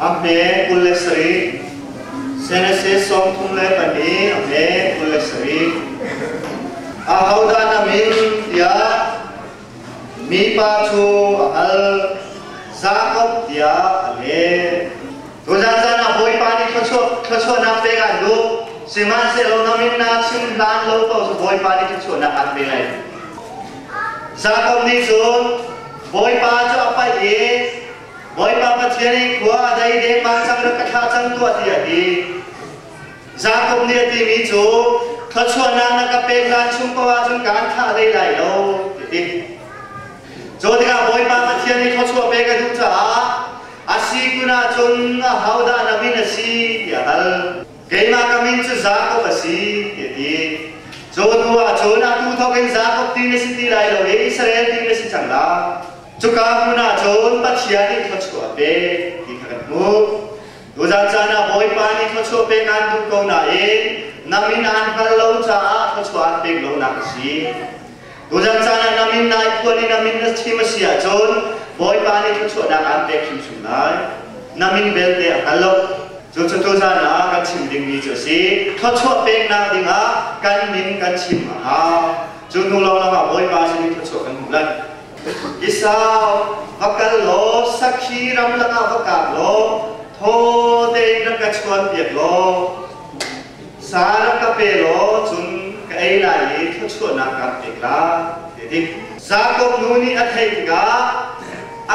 A hme kul le sarih. Genesis sawm thum le pahnih a hme kul le sarih. Ahodah na min tiah mipa cu a hal. Jakob tiah a leh. Tuzan zan ah Bawipa nih thluachuahnak pek aan duh. Sihmanhsehlaw na min na chim hlan lo ko cu Bawipa nih thluachuahnak aan pe lai. Jakob nih cun Bawipa cu a paih i Bawipa Pathian in khua a dei deng ma cang rak ka thlah cang tuah ti a ti. Jakob nih a timi cu thluachuahnak na ka pek hlan chung paoh ahcun ka an thlah hlei lai lo ti ti. Cu tikah Bawipa Pathian nih thluachuah pek a duh caah a si kun ahcun a hodah na min a si ti a hal. Keimah ka min cu Jakob a si ti a ti. Cu hnu ahcun atu thawkin Jakob ti na si ti lai lo i Israel ti na si cang lai. Cuka hmun ah cun Pathian nih thawchuah a pek ti kha kan hmuh. Tuzan caan ah Bawipa nih thawchuah pek aan duh ko nain na min aan hngal lo caah thawchuah aan pek lonak a si. Tuzan caan ah na min nai phuan i na min na chim a si ahcun Bawipa nih thawchuahnak aan pek hrimhrim lai. Na min belte a hngal lo. Cucu tuzan ah kan chim dingmi cu a si. Thawchuah peknak dingah kan min kan chim a hau. Cu hnu lawnglawng ah Bawipa sin i thawchuah kan hmuh lai. Isa va kal law sakhi ram lakah va kap law thawte in rak ka chuan piak law sa rak ka pe law cun ka ei lai i thluachuahnak kaan pek lai ti ti Jakob nu nih a theih tikah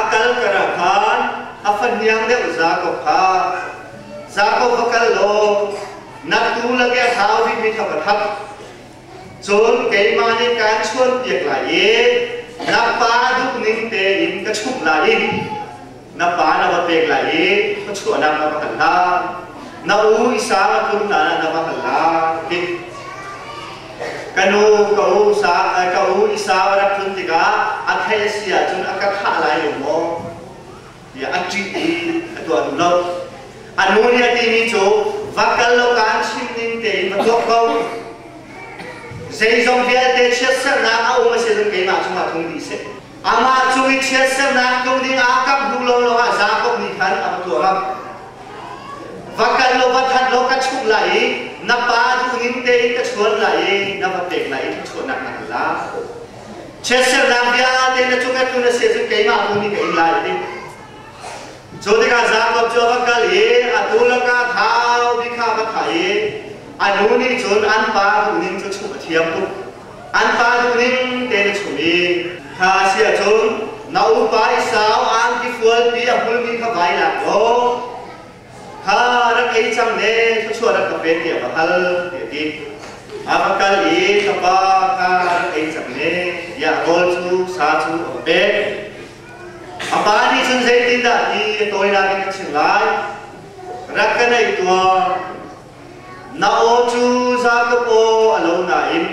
a kal ka ra khan a fahniang deuh Jakob kha Jakob va kal law naktu lage a thau bikmi kha va thap Cun keimah nih kaan chuanpiak lai i na pa duh ning tein ka chumh lai i na pa na va pek lai i khuachuahnak na va hal lai. Na u Isa tlunnan ah na va hal lai ti. Ka nu ka u, ka u Isa va rak tlun tikah a theih a si ahcun a ka thlah lai lo maw? tiah a ṭih i a tuah duh lo. A nu nih a timi cu va kal law kaan chim ning tein va tuak ko. Zeizong vialte chiatsernak a um a si cun keimah cungah tlung dih seh. Amah cung i chiatsernak tlung dingah ka hmuh lawnglawng ah Jakob nih khan a va tuah ngam. Va kal law va that law ka chumh lai i na pa duhning tein ka chuan lai i na va pek lai i ka chuahnak na hal lai. Chiatsernak vialte na cung a tu na si cun keimah bu nih ka in lai ti. Cu tikah Jakob cu a va kal i atu laka thau bi kha va thah i a nu nih cun an pa duhning cu chumh a thiam tuk. An pa duhning te na chum i kha a si ahcun na upa i sau angki fualpi a hmulmi kha vai lak law Kha rak ei cang le thluachuah rak ka pen tiah va hal ti a ti. A va kal i tapa kha rak ei cang le tiah rawl cu sa cu a va pek. A pa nih cun zeitindah ti a tawinak in a chim lai. Rak ka naih tuah. Na aw cu Jakob aw a lo nain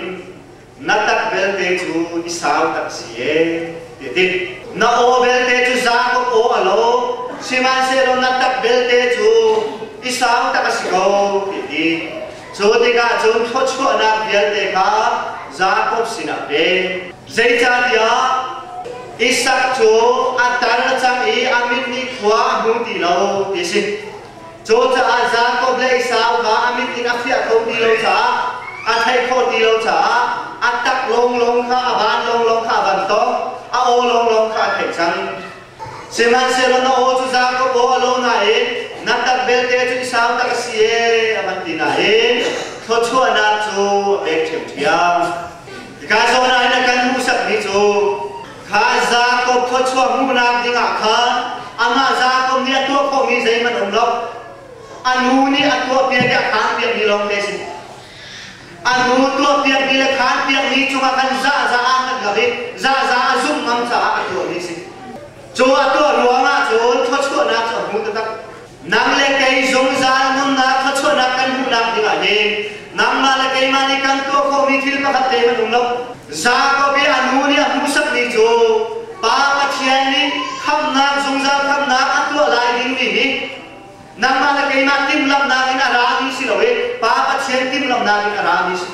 na tak belte cu i sau tak si ee, ti ti. Na aw belte cu Jakob aw a lo, sihmanhsehlaw na tak belte cu i sau tak a si ko, ti ti. Cu tikah cun thawchuahnak vialte kha Jakob sinah pe. Zeicahtiah Isak cu a tar cang i a mit nih khua a hmu ti lo, ti a si. Cu caah Jakob le Esau va a mit in a fiah kho ti lo caah a thei kho ti lo caah a tak lawnglawng kha, a van lawnglawng kha a van tong, a aw lawnglawng kha a theih cang. Sihmanhsehlaw na aw cu Jakob aw a lo nain na tak vialte cu Esau tak a si ee, a van ti nain thluachuahnak cu a pek ṭhiamṭhiam. Hika zawn ah hin a kan hmuhsakmi cu Kha Jakob khuachuah hmuhnak dingah khan amah Jakob nih a tuah khawhmi zeihmanh a um lo. A nu nih a tuahpiak i a khaan piakmi lawngte a si. A nu tuahpiakmi le khaan piakmi cungah khan zahzah ah kan hngak i zahzah a zumh ngam caah a tuahmi a si. Cu a tuah ruangah cun khuachuahnak cu a hmu taktak. Nang le kei zungzal nunnak thluachuahnak kan hmuhnak dingah hin nangmah le keimah nih kan tuah khawhmi thil pakhat te hmanh um lo. Jakob i a nu nih a hmuhsakmi cu Pa Pathian nih khamhnak zungzal khamhnak an tuah lai dingmi hi nangmah le keimah timhlamhnak in a rami si loin Pa Pathian timhlamhnak in a rami si.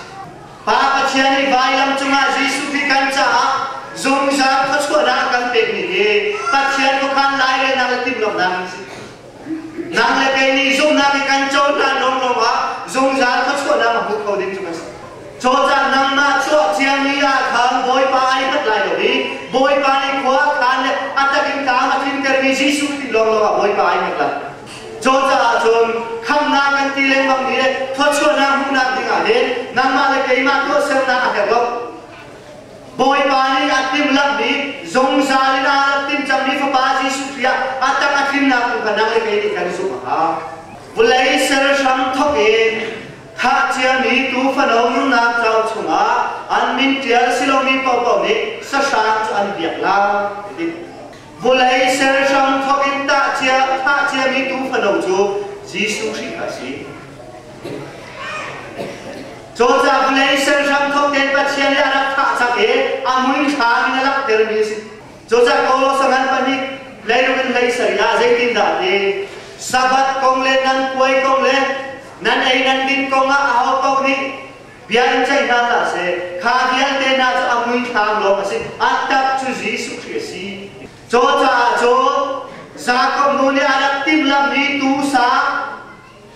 Pa Pathian nih vailam cungah Jesuh hi kan caah zungzal khuachuahnak kan pekmi hi Pathian khuakhan lai le nang le timhlamhnak in a si. Nang le kei nih zumhnak i kan cohlan lawng lawngah zungzal khuachuahnak a hmu kho ding cu kan si. Cawcah nangmah chuah ciami ah khan Bawipa ai hngat lai lo i Bawipa nih khua khan le a tak in tlang a tlintermi Jesuh ti lawng lawngah Bawipa ai hngat lai. Cu caah cun khamnak kan ti lengmang hi le thawchuahnak hmuhnak dingah hin nangmah le keimah tuahsernak a herh lo. Bawipa nih a timhlamhmi zungzal in a rak tim cangmi Fapa Jesuh Khrih ah a tang a tlinnak tu kha nang le kei nih kan zumh a hau. Vawlei sal hrang thawk in khah ciami tuufano nunnak cauk chungah an min ṭial silomi paohpaoh nih sahrang cu an biak lai. Ti. Vulei ser hram thawk in tahcia thahciami tu fano cu Jesuh Khrih a si. Cawcah vulei ser hram thawk tein Pathian nih a rak thah cang i a hmuihram in a langhtermi a si. Cawcah Kawlawsa ngan pahnih leilung in lei sari ah zeitindah a ti? Sabbath kong le nan puai kong le nan ei nan din kong ah aho paoh nih Bia in ceih hna hlah seh. Kha vialte hna cu a muisang lawng a si. An tap cu Jesuh Khrih a si. Cu caah cun Jakob nu nih a rak timhlamh i tusang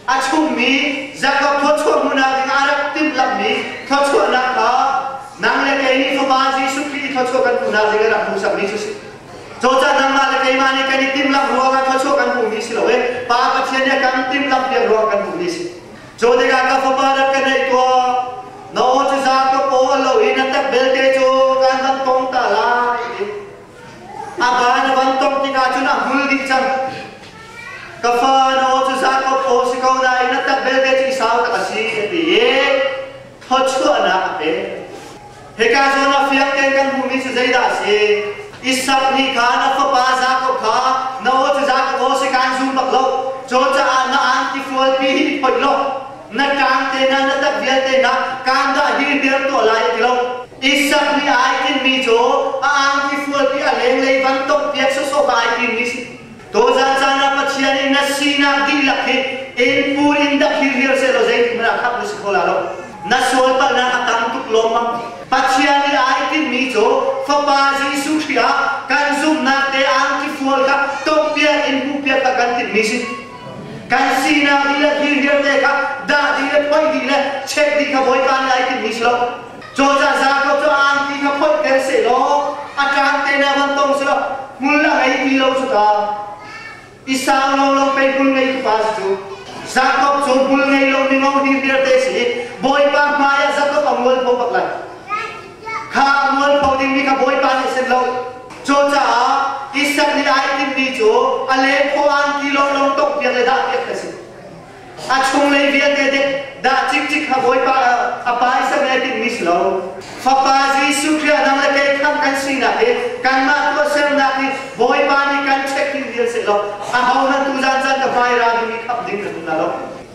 a chummi Jakob thluachuah hmuhnak ding a rak timhlamhmi thluachuahnak kha nang le kei nih Fapa Jesuh Khrih i thluachuah kan hmuhnak ding a rak hmuhsakmi cu a si. Cucaah nangmah le keimah nih kan i timhlamh ruangah thluachuah kan hmuhmi si lo i Pa Pathian nih a kan timhlamh piak ruangah kan hmuhmi a si. Jonika ka fapa na ka neih tuah na aw cu za ka paw lo i na tak belte cu kan van tong ta lai a ba na van tong tikah cun a hul dih cang ka fa na aw cu za ka paw si ko dai na tak belte cu i sau tak a si a ti i thawchuahnak a pek Hika cun a fiangte kan hmuhmi cu zeidah a si? Isak nih khan a fapa Jakob kha, Na aw cu Jakob aw si kaan zum bak lo, Caw caah na aan tifualpi hi i phoih law, na ṭaang te hna, na tak vialte hna kaan dah hi hir tuah lai a ti lo. Isak nih ai tinhmi cu a aan tifualpi a lenglei van tonghpiak sawsawh kha ai timmi a si. Tawzan caan ah Pathian in na sinak dihlak hi enpur in dah hirhir sehlaw zeithil ah khak na si kho la lo. Na sual palhnak a tam tuk lawmmam. Pathian i ai timhmi cu Fapa Jesuh Khrih ah kan zumhnak te angkifual kha tawppiak in hmuhpiak kha kan timhmi si. Kan sinak dih le hirhir te kha dah dih le phoih dih le check dih kha Bawipa nih ai timhmi si lo. Cawca zakawt cu aanpi kha phoih ter seh law a kaan te na van tong sila hmul a ngei ti lo cu ta. I sau lo lo pei hmul ngei tu pa si cu. Zakawt cu hmul ngei lo mi ngo hing dir te si i Bawipa hmai ah zakawt a mual pho bak lai. Kha a mual pho ding mi kha Bawipa nih sen lo. Cucaah Isak nih ai timmi cu a le phaw aan kilo long tongh piak le dah piak a si. A chunglei vialte dek dah cikcik ha Bawipa a pai sem e tin mis lo. Fapa Jesuh Khrih nang le kei khamh kan sinak hi kanmah tuahsernak hi Bawipa nih kan check ding vial seh law a ho nan tu zan zan ka pai ra ding i khamh ding ka zum na lo.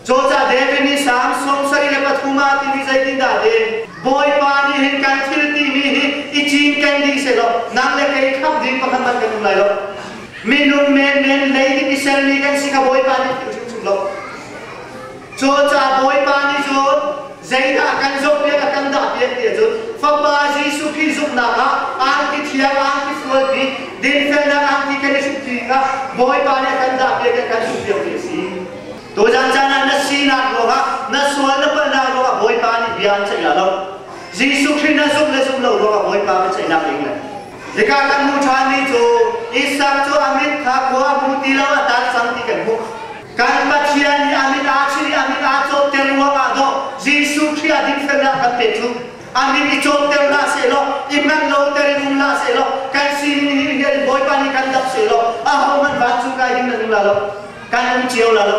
Cawca David nih Psalm sawmsarih le pathum ah tin i zeitindah te Bawipa nih hin kan thil ti mi hi i cinken ding seh law nang le kei khamh ding pakhat hmanh kan um lai lo. Minung menmen lei nih misel mi kan si ka Bawipa nih ti hrimhrim lo. Cu ca Bawipa nih cun zeidah kan zoh piak a kan dah piak ti cun Fapa Jesuh Khrih zumhnak ah arti thiang arti sual pi dinfelnak arti kan i hruk ding ah Bawipa nih a kan dah piak i a kan hruh piak mi a si. Tuzan caan ah na sinak ruangah na sual na palhnak ruangah Bawipa nih bia an ceih lah lo. Jesuh Khrih na zumh le zumh lo ruangah Bawipa biaceihnak a ing lai. Hika kan hmuh ṭhanmi cu Isak cu a mit kha kua hmu ti lo a tat cang ti kan hmuh. Kan Pathian nih a mit aa chinh i a mit aa cawpter ruangah maw Jesuh Khrih a dikfelnak kan pe cu? A mit i cawpter hlah sehlaw, i hmanh loter in um hlah sehlaw, kan sining nih hin Bawipa nih kan dap sehlaw, ahohmanh vancung kai hin nan um la lo, kan um cio la lo.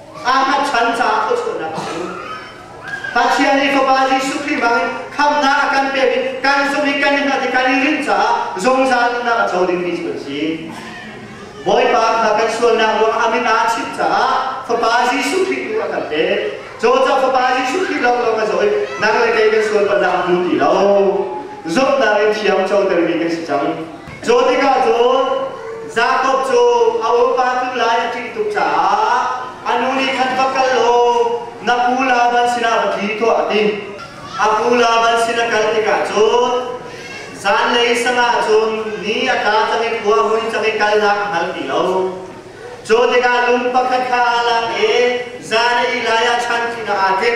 Ahmad chan caah khuachunhnak a um. Pathian nih Fapa Jesuh Khrih bangin khamhnak a kan pek i kan zumh i kan nunnak i kan i rin caah zungzal nunnak a co dingmi cu an si. Bawipa kha kan sualnak ruangah a min aa chimh caah Fapa Jesuh Khrih tu a kan pek. Cawcah Fapa Jesuh Khrih lawnglawng a zaw i nang le kei kan sual palhnak a hmu ti lo. Zumhnak in thiam cotermi kan si cang. Cu tikah cun Jakob cu a bawipa cu lai a ṭih tuk caah a nu nih khan va kal law na pu Laban sinah va tli tuah a ti. A pu Laban sin a kal tikah cun zanlei sangah cun ni a tla cang i khua a vui cang i kalnak a hngal ti lo. Cu tikah lung pakhat kha aa lak i zan i lai ah chanṭihnak aa ṭim.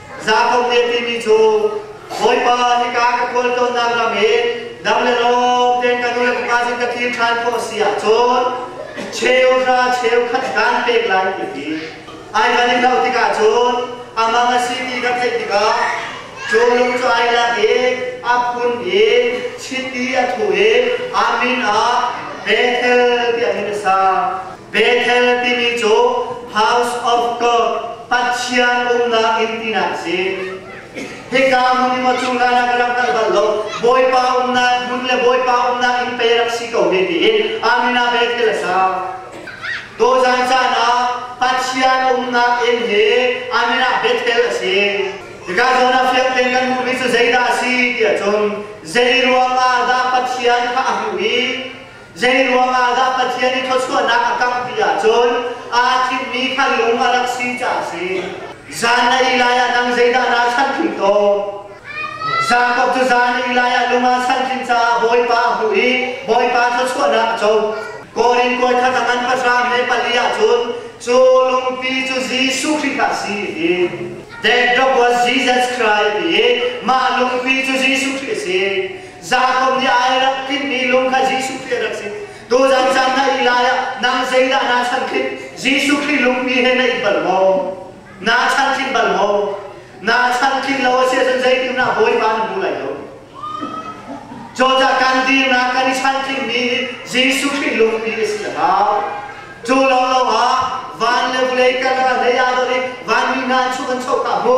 Zakhong te timi cu Bawipa nika ka kawl tonnak lam i nam le lawm ten ka nu le fapa sin ka thil ṭhan khawh a si ahcun cheu hra cheu khat kan pek lai ti hi ai kan in hloh tikah cun a mang a si ti kan theih tikah cu lung cu ai lak i a phun i chiti a thu i amin ah Bethel tiah hin a sa. Bethel timi cu House of God, Pathian umnak inn tinak a si. Hika hmun i maw cu nan ah ka rak hngalh bal lo, Bawipa umnak hmun le Bawipa umnak inn pei rak si ko ve tiin Amin ah Bethel a sa. Tuzan caan ah Pathian umnak inn hi Amin ah Bethel a si. Hika zawn ah fiang tein kan hmuhmi cu zeidah a si tiah cun zei ruangah dah Pathian kha a hmuh i Zeiruangah dah Pathian i thluachuahnak a kangh ti ahcun aa thimmi kha lung a rak si caah a si. Zan le ei lai ah nang zeidah naa chantling tawn? Jakob cu zan le ei lai ah lung aa chantling caah Bawipa a hmuh i Bawipa thluachuahnak a co. Korin kuai khat a ngan pahra hme pali ahcun cu lungpi cu Jesuh Khrih ta a si a ti. Death drop was Jesus Christ ti i mah lungpi cu Jesuh Khrih a si. Zakum ni ai rak tlin mi lung kha Jesuh Khrih rak si. Tu zan zan na i lai ah nang zeidah naa chan khin Jesuh Khrih lung mi he na i bal maw? Naa chan khin bal maw? Naa chan khin lo a si ahcun zeitindah Bawipa na hmu lai lo? Cawcah kan dirnak kan i chan khin mi Jesuh Khrih lung mi a si a hau. Cu lo lo ah van le vulei karkar hei aa dor i vanmi hna chung an choka hmu.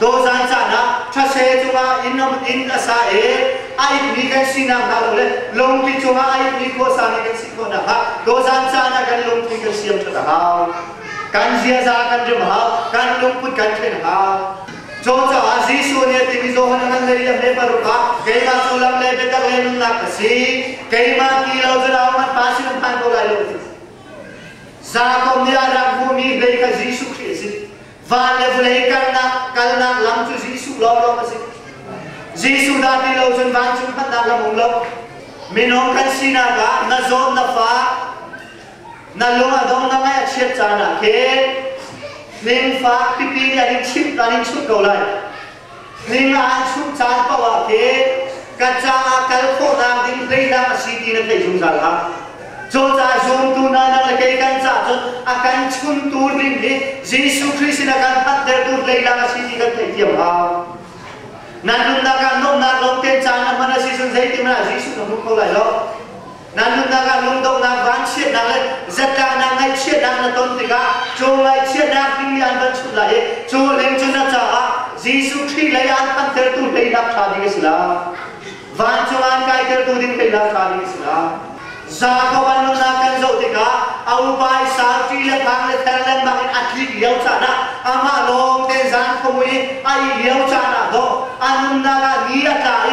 Dawzan caan ah thase cungah inn inn a sa i a itmi kan sinak hna le lungpi cungah a itmi khuasa hi kan si khawh nakhnga dawzan caan ah kan lungpi kan siam ṭhat a hau. Kan ziaza kan rim a hau, kan lungput kan ṭhen a hau. Cu caah Jesuh nih a timi Johan a ngan le a hme paruk ah keimah sullam le biatak le nunnak ka si. Keimah ti lo zerau hmanh pa si hman ko lai lo ti. Jakob nih a rak hmuhmi hlei kha Jesuh Khrih a si. Va le vawlei kalnak, kalnak lam cu Jesuh lawng a si. Jesuh dah ti lo cun vancung phanhnak lam um lo. Minung kan sinak ah na zawt na fa, na lung a dong na ngaih a chiat caan ah khin ning fak pipi nih an in chimh, an in chimh ko lai. Hlinga an chuh caan paoh ah ke ka caah kal khawhnak ding hleidang a si ti na theih zungzal hlah. Cawcai zuamtu nanak le kei kan ca cun a kan chuntu ding hi Jesuh Khrist in a kan phanhtertu hleidang a si ti kan theih thiam hau. Nan nunnak ah nuamhnak lawngte caan a hman a si cun zeitin ah Jesuh na hmuh kho lai lo. Na nunnak ah lungdohnak, vanchiatnak le zatlahnak, ngaihchiatnak na ton tikah caw ngaihchiatnak ding nih an van chuh lai i cawleng cu na caah Jesuh Khrih lei ah an thantertu hlei lak ṭha ding a si lo. Van cung an kaitertu ding hlei lak ṭha ding a si lo. Jakob an nunnak kan zoh tikah a upa i sauṭi le thang le theng lengmang in a tlik lio caan ah amah lawng tein zan khong i a ih lio caan ah dawh a nunnak ah ni a tla i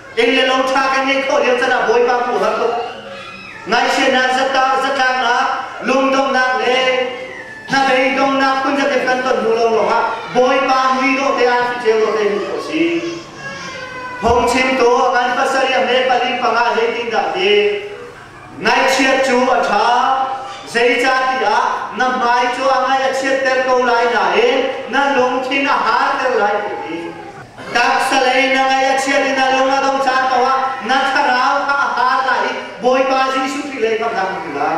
Eng le lo tha kan ngeih khawh lio can ah Bawipa huham ngaihsianak zatlang ah lungdonghnak le hnabei donghnak phun zat kan ton hnu lo lawngah Bawipa mui dawh te ah ceu dawh te hmuh si. Hong chim tu kan pasariam le pali panga zeitin dah ti Ngaihchiat cu a ṭha. Zeicahtiah na hmai cu a ngaih a chiatter ko lai nain na lungthin a harter lai ti a ti. Taksalei na ngaih a chiat i na lung a dong caan paohah na thlarau kha a har lai i Bawipa Jesuh Khrih lei kha a dang ti lai.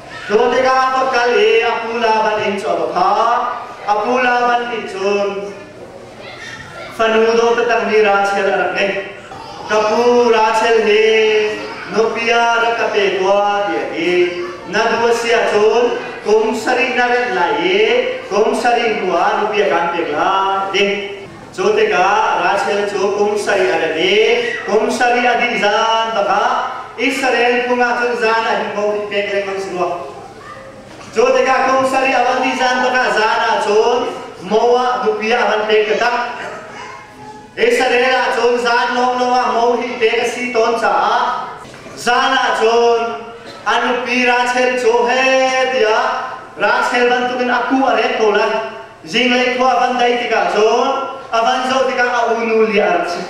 Cu tikah va kal i a pu Laban inn cu a va phak. A pu Laban nih cun fanu dawtatang nih Rachel a rak ngeih. Ka pu Rachel hi nupi ah rak ka pe tua tiah ti na duh a si ahcun kum sarih na remh lai i kum sarih hnuah nupi a kaan pek lai ding Cu tikah Russell cu kum sari a ra i kum sari a dih zan bakah Israel phung ah cun zan a him bau hnik lengmang si rua. Cu tikah kum sari a van dih zan bakah zan ah cun Moab nupi ah a van pek ka tak. Israel ah cun zan lawnglawng ah mo hi pek a si tawn caah zan ah cun an nupi Rachel cu he tiah Rachel bantukin a ku a ret ko lai. Zinglei khua a van dei tikah cun a van zoh tikah a unu li a rak si.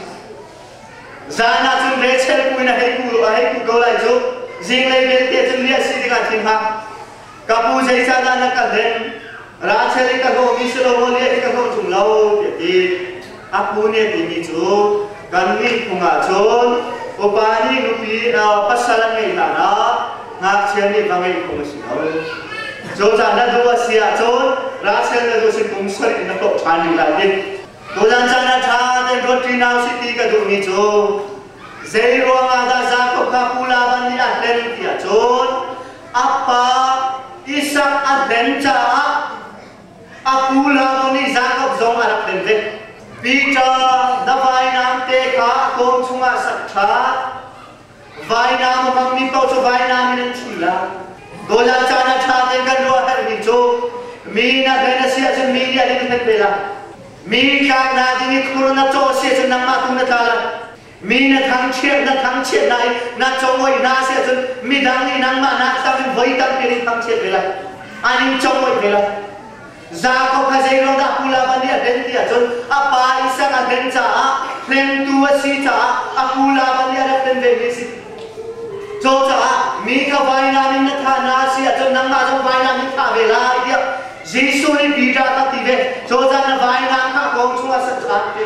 Zan ah cun Rachel ku in a hei ku, a hei ku ko lai cu. Zinglei belte cun li a si tikah a thin hak. Ka pu zeisan ah na kal hen? Rachel i ka hlawhmi si lo maw li a i ka hlawh ṭung lo, tiah ti. A pu nih a timi cu kan ngeihphung ahcun upa nih nupi pasal an ngeih hlan ah ngakchia nih va ngeihphung a si lo. Cozah na duh a si ahcun Russia na duh si phung soi in na hlawh ṭhan rih lai ding. Tuzan caan ah ṭha tein ruat ṭinau si ti ka duhmi cu zei ruang ah dah Jakob kha pu Laban nih a hlen ti ahcun a pa Isak a hlen caah A pu le nih Jakob zong a rak lenlet. Peter, na vainam te kha kawm chungah sak ṭhan. Vainam a hmangmi paoh cu vainam in an ṭhul la. Gola caan a ṭha tein kan ruah a herhmi cu mi na hlen a si ahcun mi nih an in hlen ve lai. Mi tlaknak ding i khur na cawh a si ahcun nangmah tu na tla lai. Mi na thangchiat, na thangchiat lai, na chawngoi hna si ahcun midang nih nangmah na tar in voi tampi nih thangchiat ve lai. An in chawngoi ve lai. Jakob kha zeiruang dah pulama nih a den ti ahcun a pa Isak a den caah hlengtu a si caah a pulama nih a rak den vemi a si. Cucaah mi kha vailam in na thah hna a si ahcun nangmah zong vailam in thah ve lai tiah Jesuh nih Peter kha ti ve. Cozah na vainam kha kong chung ah sak ah ti.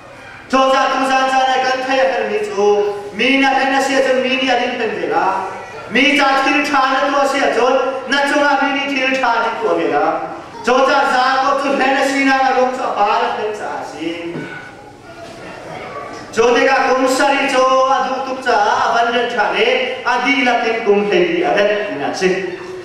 Cawcah tuzan caan ah kan thei a hermi cu mi na hlen a si ahcun mi nih an in hlen ve lai. Mi ca thil ṭha na tuah si ahcun na cungah mi nih thil ṭha an in tuah ve lai. Cawcah zaangau cu hlen a sinak a ruang cu a par hlen caah a si. Cu tikah kum sari cu a duh tuk caah a van renh ṭhan i a dihlak in kum hleili a renh tinak a si.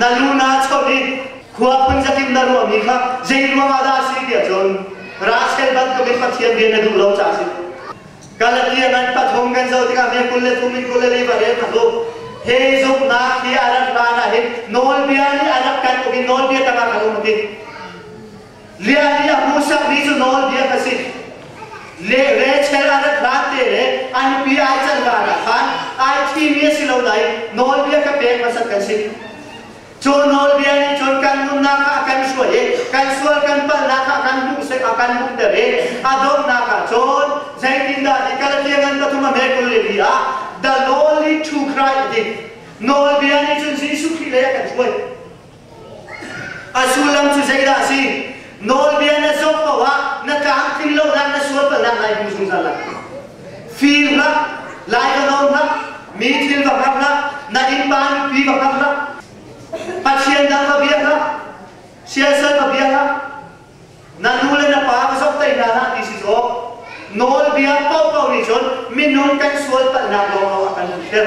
Na lu naa choh i khua phun zatin na ruahmi kha zei ruangah dah a si tiah cun Russell bantukin Pathian rian na duh lo caah a si. Galatia ngan pathum kan zoh tikah min kul le thum in kul le liba rel hna hlu. He zumhnak hi a rat hlan ah hin nawlbia nih a rak kan uk i nawlbia tangah kan um a ti. Lia nih a hmu sakmi cu nawlbia a si. Le re chel a rat hlan te le an pi ai can kaan ah khan ai thimi a si lo nain nawlbia ka pek hmasat kan si. Cu nawlbia nih cun kan nunnak kha a kan suai i kan sual kan palhnak kha kan hmuh a kan hmuhter i a donghnak ah cun zeitindah ni kal tiangin pathum a hme kul le li ah the lowly true Christ a ti. Nawlbia nih cun Jesuh Khrih lei a kan suai. A sullam cu zeidah a si? Nawlbia na zawt paoh ah na tlamtling lonak na sual palhnak lai hmu zungzal lai. Fir hlah, lai va nawn hlah, mi thil va hngak hlah, na innpa nupi va hngak hlah, pathian dang va bia hlah, siasal va bia hlah, na nu le na pa va zok hlei hna hlah ti si sawh. Nawlbia paohpaoh nih cun minung kan sual palhnak lawng a kan hmuhter.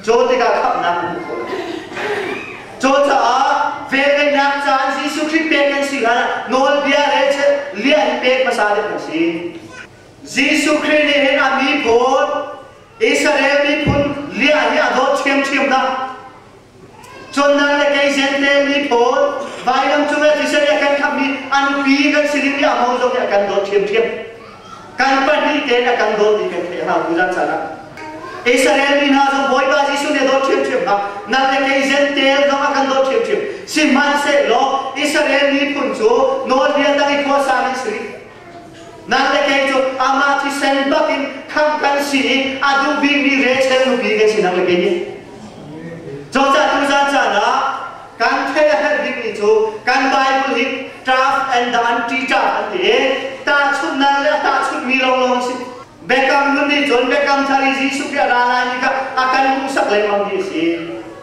Caw tikah khamhnak a hmuh khawh lai. Caw caah velvenak caan Jesuh Khrih pek kan si ah nawlbia le liah i pek hmasa deuh kan si. Jesuh Khrih nih hin a mi pawl Israel miphun liah hi a dawt ṭhiamṭhiam hna. Condan le kei zente mi pawl vailam cung le thisen a kan khammi an pi kan si rih i a ho zong nih a kan dawt ṭhiamṭhiam. Kan pahnih te a kan dawt dih kan thei ana bu zan sana Israel mi hna zong Bawipa Jesuh nih a dawt ṭhiamṭhiam hna nan le kei Zentail zong a kan dawt ṭhiamṭhiam sihmanhsehlaw Israel miphun cu nawlbia tang i khua sang in si rih nan le kei cu amah thisen bak in khang kan si i a duh bikmi rechel nupi kan si nan le kei nih Cawcah tu zan caan ah Kan feh a herh bikmi cu kan Bible hi tough and the anti-tough an ti i tahchunhnak le a tahchunhmi lawnglawng a si. Biakam nun nih cun Biakam Thar i Jesuh Khrih a ra lai ni kha a kan hmuhsak lengmang hi a si.